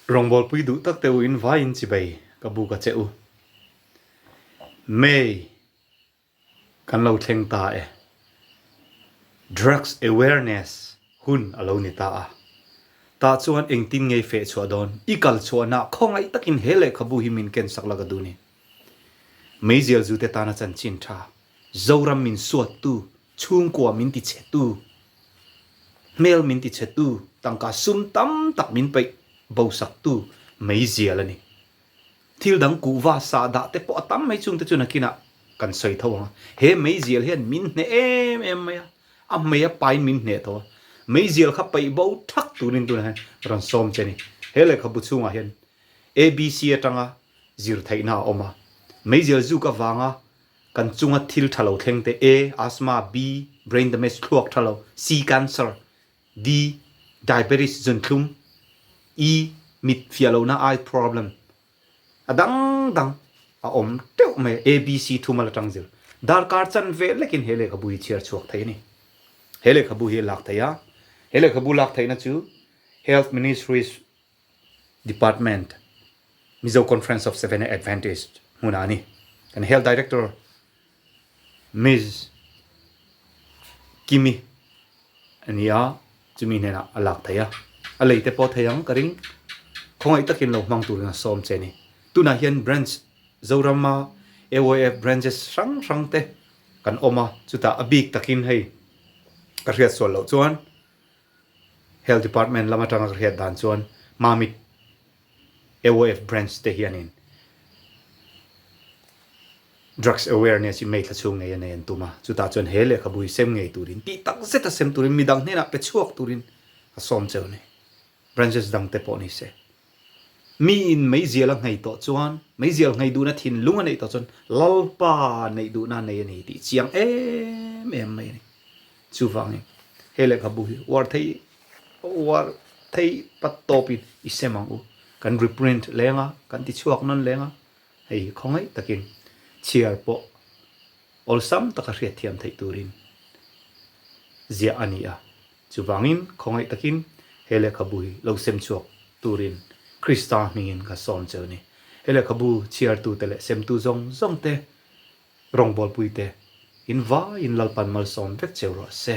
Rawngbawlpui duh tak teh u in vaiin chibai ka buk a che u. May, Kan lo thleng ta e. Drugs awareness hun a lo ni ta a. Tah chuan engtin ngei feh chhuah dawn? I kal chhuah na khawngaih takin he lehkhabu hi min ken sak la ka duh ni? Meizial zute tana chanchin tha, Zoram min suattu Chhungkua min ti chhetu, hmel min ti chhetu, tangka sum tam tak min peih bo saktu meizial a ni. Thil dang kuhva sah dah te pawh a tam mai chungte chu nakinah kan sawi tho ang a. He meizial hian min hneh em em mai a, a hmei a pain min hneh tho a. Meizial kha peih bo thak turin tunah hian rawn sawm che a ni. He lehkhabu chhungah hian ABC atanga zirtheihna a awm a, meizial zuk avanga Kan chunga thil tha lo thleng te A, Asthma, B, Brain damage thluak tha lo, C, Cancer, D, Diabetes, zunthlum, E, Mit fiah lo na, Eye problem, a dang dang a awm teuh mai a, A, B, C thuma la tang zir. Darkar chan ve lekin he lehkhabu hi chhiar chhuak thei a ni. He lehkhabu hi a lak thei a, he lehkhabu lak theihna chu Health Ministry, Department, Mizo Conference of Seventh-day Adventist hmunah a ni. Kan Health Director Ms. Kimmy a ni a, chumi hnenah a lak thei a. A lei te pawh thei ang ka ring, khawngaih takin lo hmang turin a sawm che ni. Tunah hian Branch Zorama AOF Branches hrang hrang te kan awm a, chutah a bik takin hei ka hriat sual loh chuan Health Department lam atanga ka hriat dan chuan Mamit AOF Branch te hianin Drugs Awareness i meithla chhung ngei a nei an tum a, chutah chuan he lehkhabui sem ngei turin, tih tak zeta sem turin midang hnenah pe chhuak turin a sawm cheu nei. Branches dangte pawh ni se. Miin meizial a nghei tawh chuan meizial nghei duhna thinlung a neih tawh chuan Lalpa neih duhna a nei a ni tih chiang em em mai a ni. Chuvangin he lehkhabu hi Uarthei Uarthei pat tawpin i sem ang u, kan reprint leng a, kan tichhuak nawn leng a, hei hi khawngaih takin chhiar pawh awlsam taka hriatthiam theih turin ziah a ni a. Chuvangin, khawngaih takin he lehkhabu hi lo sem chhuak turin Krista hmingin ka sawm che u ni. He lehkhabu chhiartute leh semtu zawng zawngte, rawngbawlpuite, in vai in lalpan malsawm vek che u rawh se.